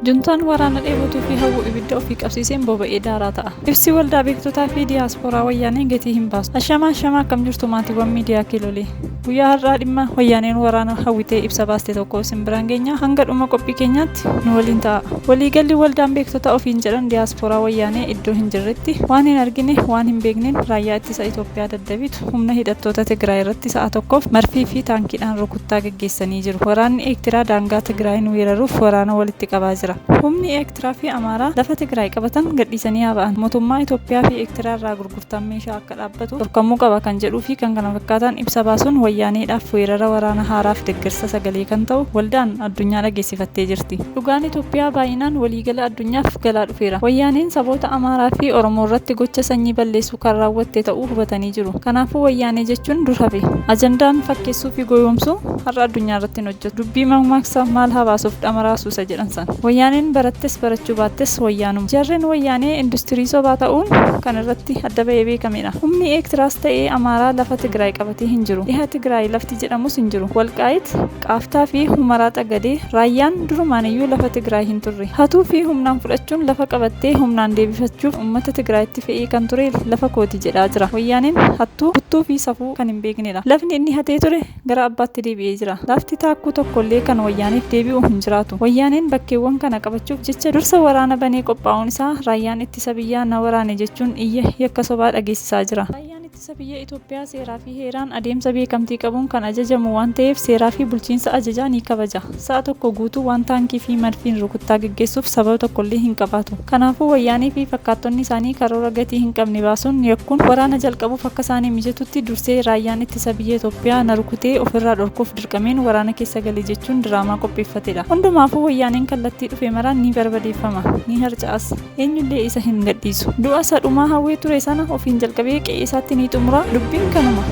Juntaan waraana dheebotuu fi hawwu ibidda ofii qabsiiseen boba'ee daaraa ta'a. Ibsi waldaa beektotaa fi diyaaspooraa wayyaanee gatii hin baasu. Ashamaa ashamaa akkam jirtu maatiiwwan miidiyaa kiilolee. Guyyaa har'aa dhimma wayyaaneen waraana hawwitee ibsa baaste tokko isin biraan geenya hanga dhuma qophii keenyaatti nu waliin ta'a. Waliigalli waldaan beektota ofiin jedhan diyaaspooraa wayyaanee iddoo hin jirretti waan hin argine waan hin beekneen raayyaa ittisa Itoophiyaa daddabitu humna hidhattoota Tigraay irratti sa'a tokkoof marfii fi taankiidhaan rukuttaa geggeessanii jiru. Waraanni Eektiraa daangaa Tigraayiin weeraruuf waraana walitti qabaa jira. Humni Ertiraa fi Amaaraa lafa Tigraay qabatan gadhiisanii haa ba'an, motummaa Itoophiyaa fi Ertiraa irraa gurgurtaan meeshaa akka dhaabbatu dhorkamuu qaba kan jedhuu fi kkf ibsa baasuun Wayyaaneedhaaf weerara waraana haaraaf deggersa sagalee kan ta'u waldaan addunyaa dhageessifattee jirti. Dhugaan Itoophiyaa baay'inaan waliigala addunyaaf galaa dhufeera. Wayyaaneen saboota Amaaraa fi Oromoo irratti gocha sanyii balleessuu kan raawwatte ta'uu hubatanii jiru. Kanaafuu Wayyaanee jechuun dur hafe. Ajandaan fakkeessuu fi goyoomsuu har'a addunyaa irratti hin hojjetu. Dubbii makmaaksa maal haa baasuuf dhamaraa suusa jedhan san. Wayyaaneen barattes barachuu baattes wayyaanuma. Jarreen wayyaanee industirii sobaa ta'uun kan irratti adda bahee beekamedha. Humni Eektiraas ta'ee Amaaraa lafa Tigraay qabatee hin jiru. Dhiha Tigraay lafti jedhamus hin jiru. Walqaayit, Qaaftaa fi Humaraa Xagadee, Raayyaan durumaaniyyuu lafa Tigraay hin turre. Hatuu fi humnaan fudhachuun lafa qabattee humnaan deebifachuuf ummata Tigraayitti fe'ee kan ture lafa kooti jedhaa jira. Wayyaaneen hattuu, buttuu fi safuu kan hin beeknedha. Lafni inni hatee ture gara abbaatti deebi'ee jira. Lafti taakkuu tokko illee kan wayyaaneef deebi'u hin jiraatu. Wayyaaneen bakkeewwan kana qabachuuf jecha dursa waraana banee qophaa'uun isaa raayyaan ittisa biyyaa na waraane jechuun iyya yakka sobaa dhageessisaa jira. Raayyaan ittisa biyya Itoophiyaa seeraa fi heeraan adeemsa beekamtii qabuun kan ajajamu waan ta'eef seeraa fi bulchiinsa ajajaa ni kabaja. Sa'a tokko guutuu waan taankii fi madfiin rukuttaa geggeessuuf sababa tokkollee hin qabaatu. Kanaafuu Wayyaanee fi fakkaattonni isaanii karoora gatii hin qabne baasuun, yakkuun, waraana jalqabuuf akka isaanii mijatutti dursee raayyaan ittisa biyya Itoophiyaa na rukutee ofirraa dhorkuuf dirqameen waraana keessa gale jechuun diraamaa qopheeffatedha. Hundumaafuu Wayyaaneen kallattii dhufe maraan ni barbadeeffama. Ni harca'as. eenyullee isa hin gadhiisu du'a isa dhumaa hawwee ture sana ofiin jalqabee qe'ee isaatti ni xumura dubbiin kanuma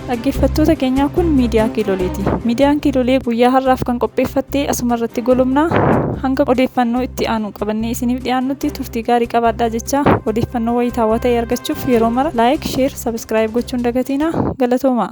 dhaggeeffattoota keenyaa kun miidiyaa kiiloleeti miidiyaan kiilolee guyyaa har'aaf kan qopheeffatte asuma irratti golomna hanga odeeffannoo itti aanu qabannee isiniif dhiyaannutti turtii gaarii qabaadhaa jechaa odeeffannoo wayitaawaa ta'e argachuuf yeroo mara laayik sheer sabiskiraayib gochuun dagatiina galatoomaa